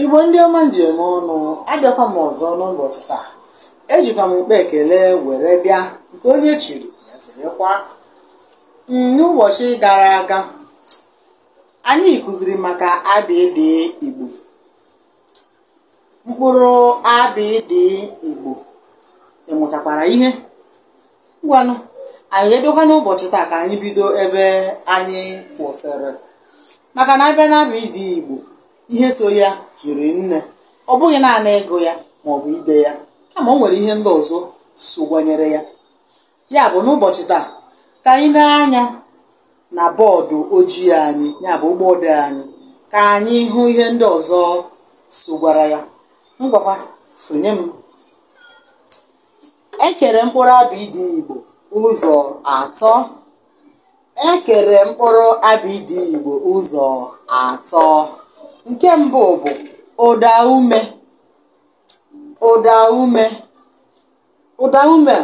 igbo ndị ọma m ji eme ọnụ abịakwa m ọzọ n'ụbọchị taa ejikwa m ụkpa ekele were bịa nke onye chiri ya zerekwa Mm, n'ụbọchị gara aga anyị kụziri maka abịdị igbo mkpụrụ abịdị igbo ị mụtakwara ihe ngwanụ anyị abịakwa n'ụbọchị taa ka anyị bido ebe anyị kwụsịrị maka na a bịa n'abịdị igbo ihe so ya hiri nne ọ bụghị naanị ịgụ ya ma ọ bụ ide ya kama o nwere ihe ndị ọzọ sokwanyere ya ya bụ n'ụbọchị taa ka anyị nee anya na bọọdụ ojii anyị ya bụ ụgbọ odee anyị ka anyị hụ ihe ndị ọzọ sokwara ya ngwakwa sonye m E kere mkpụrụ abịdịị Igbo ụzọ atọ. E kere mkpụrụ abịdịị Igbo ụzọ atọ. Nke mbụ bụ ụda ume. Ụda ume. Ụda ume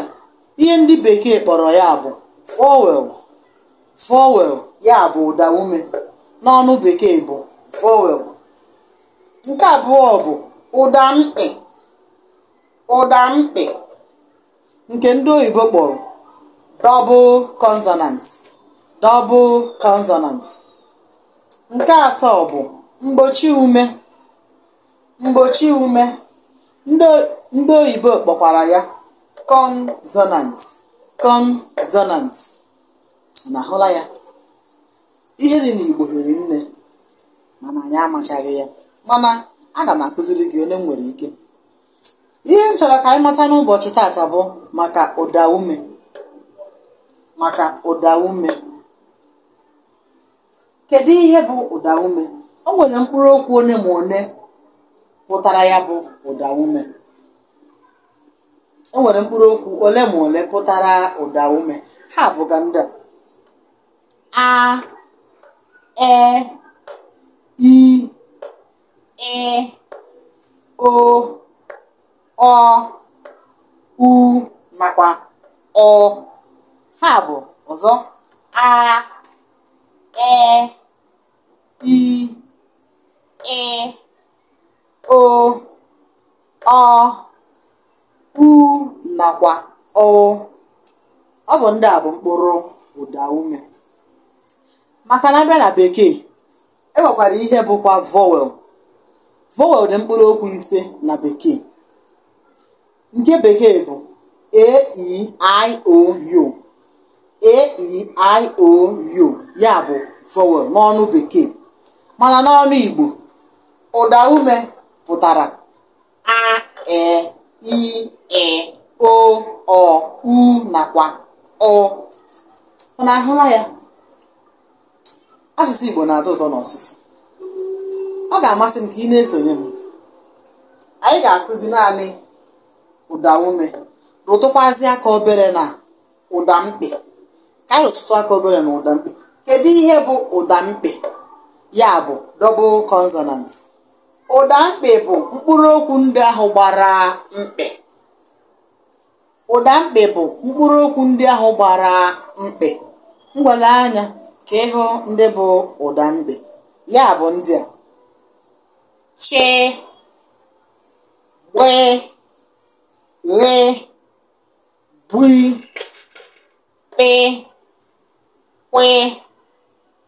ihe ndị bekee kpọrọ ya bụ vowel. Vowel ya bụ ụda ume n'ọnụ bekee bụ vowel. Nke abụọ bụ ụda mkpị. ụda mkpị nke ndị oyibo kpọrọ double consonant double consonant nke atọ bụ mgbochi ume mgbochi ume ndị oyibo kpọkwara ya consonant consonant na-ahụla ya ihe dị n'igbo hiri nne mana anyị amachaghị ya mana aga m akụziri gị one m nwere ike ihe m chọrọ ka anyị mata n'ụbọchị taata bụ maka ụda ume maka ụda ume kedu ihe bụ ụda ume o nwere mkpụrụ okwu one ma one pụtara ya bụ ụda ume o nwere mkpụrụ okwu ole ma ole pụtara ụda ume ha bụga ndị a a e i ị o ọ u nakwa ụ ha bụ ọzọ a e i ị o ọ u nakwa ụ ọ bụ ndị a bụ mkpụrụ ụda ume maka na a bịa na bekee e nwekwara ihe bụkwa vowel vowel dị mkpụrụ okwu ise na bekee nke bekee bụ a e i o u a e i o u ya bụ vowel n'ọnụ bekee mana n'ọnụ igbo ụda ume pụtara a e i ị o ọ u nakwa ụ unu ahụla ya asụsụ igbo na-atọ ụtọ n'ọsụsụ ọ ga-amasị m ka ị na-esonye m anyị ga-akụzi naanị ụda ume rụtụkwazi aka obere na ụda mkpị ka anyị rụtụtụ aka obere na ụda mkpị kedu ihe bụ ụda mkpị ya bụ double consonant ụda mkpị bụ mkpụrụ okwu ndị ahụ gbara mkpị Ụda mkpị bụ mkpụrụ okwu ndị ahụ gbara mkpị. Ngwa lee anya ka ị hụ ndị bụ ụda mkpị. Ya bụ ndị a. Chị, gbị, ghị, gwị, kpị, kwị.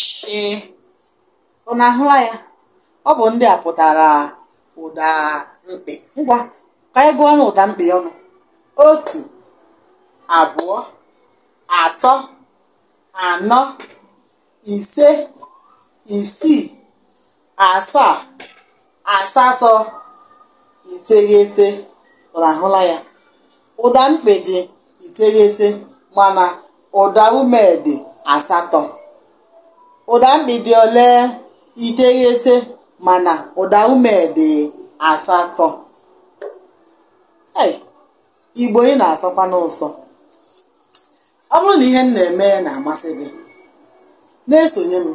shị unu ahụla ya ọ bụ ndị a pụtara ụda mkpị ngwa ka anyị gụọnụ ụda mkpị ọnụ otu abụọ atọ anọ ise isii asaa asatọ iteghete unu ahụla ya ụda mkpị dị iteghete mana ụda ume dị asatọ ụda mkpị dị ole iteghete mana ụda ume dị asatọ igbo ị na-asọkwa m ụsọ ọ bụrụ na ihe m na-eme na-amasị gị na-esonye m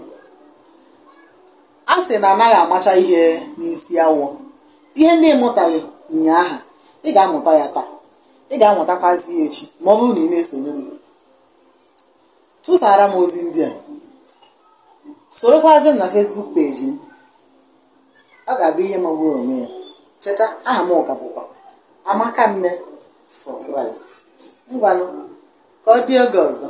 a sị na anaghị amacha ihe n'isi awọ ihe ndị ị mụtaghị ụnyaahụ ị ga-amụta ya taa ị ga-amụtakwazi ya echi ma ọ bụrụ na ị na-esonye m tụsara m ozi ndị a sorokwazi m na Facebook peji m ọ ga-abụ ihe magburu onwe ya cheta aha mụ ka bụkwa amaka nne for Christ ngwanụ ka ọ dị oge ọzọ